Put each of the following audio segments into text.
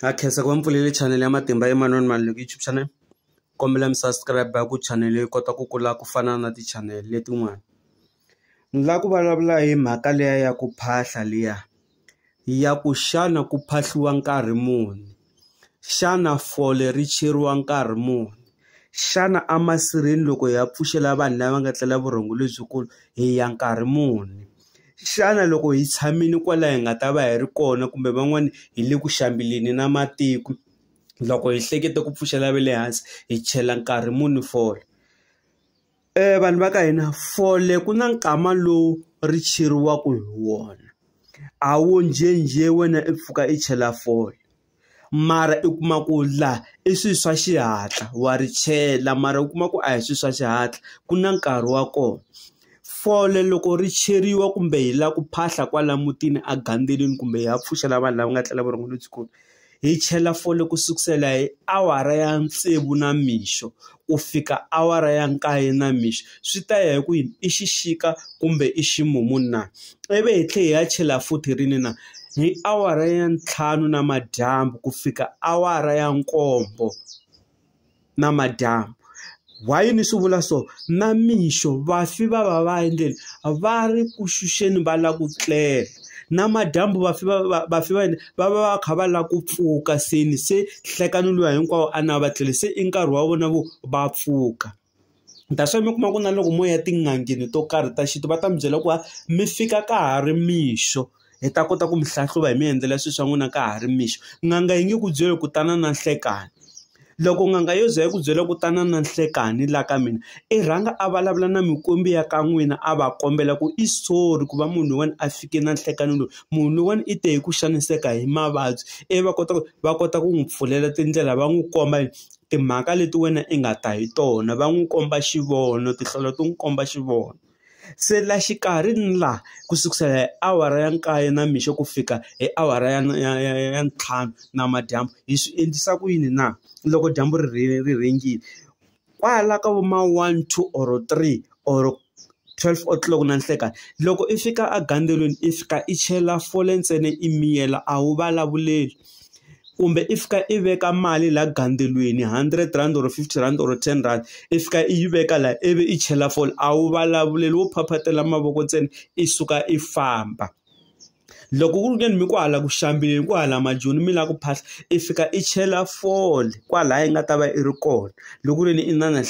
Ha khensa ku va mi pfulele chanele ya Matimba Emmanuel Maluleke YouTube channel kombela mi subscribe ku chanele yi kota ku kula ku fana na ti-channel letin'wana ni lava ku vulavula hi mhaka liya ya ku phahla liya ya ku xana ku phahliwa nkarhi muni xana fole ri cheriwa nkarhi muni xana a masirheni loko hi ya pfuxela vanhu lava nga tlela vurhongo lebyikulu hi ya nkarhi muni. Xana loko hi tshamile kwala hi nga ta va hi ri kona kumbe van'wani hi le ku xambeleni na matiko loko hi hleketa ku pfuxela ve le hansi hi chela nkarhi muni fole vanhu va ka hina fole ku na nkama lowu ri cheriwaku hi wona a wu njhenjhe wena i pfuka i chela fole. mara i kuma ku laha i swilo swa xihatla wa ri chela mara u kuma ku a hi swilo swa xihatla ku na nkarhi wa kona fole loko ri cheriwa kumbe hi lava ku phahla kwala mutini a gandzeleni kumbe hi ya pfuxela vanhu lava nga tlela vurhongo lebyikulu hi chela fole ku sukusela hi awara ya tsevu na mixo ku fika awara ya nkaye namixo swi ta ya hi ku yini i xixika kumbe i ximumu na ivi hi tlhe hi ya chela futhi rini na hi awara ya ntlhanu na madyambu ku fika awara ya nkombo na madyambu why ni swi vula so na mixo vafi va va va endleni va ri ku xuxeni va lava ku tlela na madyambu vafi va vafi va yini. va va va kha va lava ku pfuka se ni se nhlekani luya hinkwawo a na va tlele se i nkarhi wa vona vo va pfuka that's why mi kuma ku na loko mo ya tin'angeni to karhi ta xintu va ta mi byela ku va mi fika ka ha ri mixo hi ta kota ku mi hlahluva hi mi endlela swilo swa n'wina ka ha ri mixo n'anga yi nge ku byeli ku tana na nhlekani Loko n'anga yo ze yi ku byela ku tana na nhlekani la ka mina i rhanga a vulavula na mikwembu ya ka n'wina a va kombela ku i sorry ku va munhu loyiwani a fike na nhlekani loyi munhu loyiwani i te hi ku xaniseka hi mavabyi ivi va kota ku va kota ku n'wi pfulela tindlela va n'wi komba yini timhaka leti wena i nga ta hi tona va n'wi komba xivono tinhlolo ti n'wi komba xivono. Se la xikarhi ni la ku sukusela hi awara ya nkaye na mixo ku fika hi awara ya ya ya ya ntlhanu namadyambu hi swi endlisa ku yini na loko dyambu ri ri ri rhengile kwala ka vo ma one two or three or twelve o'clock na nhlekani loko i fika egandzweleni i fika i chela fole ntsena i miyela a wu vulavuleli. kumbe i fika i veka mali laha gandzeriweni hundred rand or fifty rand or ten rand i fika i yi veka laha ivi i chela fole a wu vulavuleli wo phaphatela mavoko ntsena i suka i famba loko ku ri ke ni mi kwahala ku xambeni ku hala majoni mi lava ku phahla i fika i chela fole kwalaya i nga ta va i ri kona loko ku ri ni i na na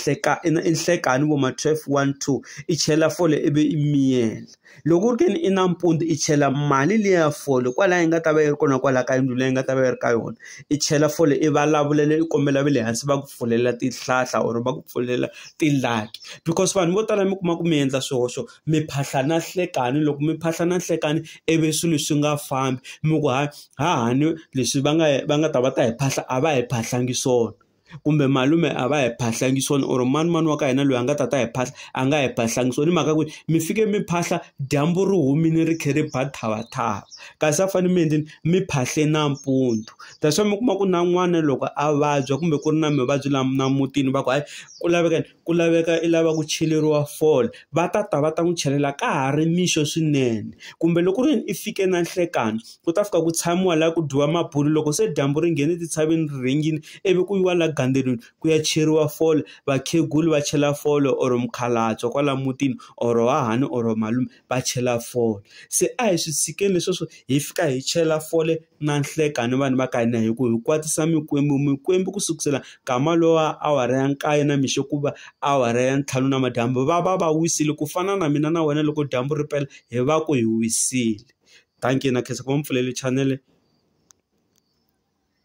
i na i nhlekani vo ma twelve one two i chela fole ivi i miyela. Loko ku ri ke ni i nampundzu i chela mali liya ya fole kwalaya yi nga ta va yi ri kona kwalaya ka yindlu leyi nga ta va yi ri ka yona i chela fole i vulavulela i kombela va le hansi va ku pfulela tihlahla or va ku pfulela ti-lucky because vanhu vo tala mi kuma ku mi endla swihoxo mi phahla na nhlekani loko mi phahla na nhlekani ivi swilo swi nga fambi mi ku ha ha hahani leswi va nga va nga ta va ta hi phahla a va hi phahlangi swona. kumbe malume a va hi phahlangi swona or mani mani wa ka hina loyi a nga ta ta hi phahla a nga hi phahlangi swona hi mhaka ku mi fike mi phahla dyambu ri humile ri khe ri ba thavathava kasi a fanele mi endleni mi phahle nampundzu that's why mi kuma ku na n'wana loko a vabya kumbe ku ri na mavabyi lama na mutini va ku hayi ku laveka ku laveka i lava ku cheleriwa fole va ta ta va ta n'wi chelela ka ha ri mixo swinene kumbe loko ku ri i fike na nhlekani ku ta fika ku tshamiwa laha ku dyiwa mabulo loko se dyambu ri nghene etintshaveni ri rhengile ivi ku yiwa laha gandzeriweni ku ya cheriwa fole vakhegula va chela fole or mukhalabye kwala mutini or hahani or malume. va chela fole se a hi swi tshikeni leswi swo hi fika hi chela fole na nhlekani vanhu va ka hina hi ku hi kwatisa mikwembu mikwembu ku sukusela nkama lowa awara ya nkaye na mixo ku va awara ya ntlhanu na madyambu va va va wisile ku fana na mina na wena loko dyambu ri pela hi va ku hi wisile dankie na khensa ku va mi pfulele chanele.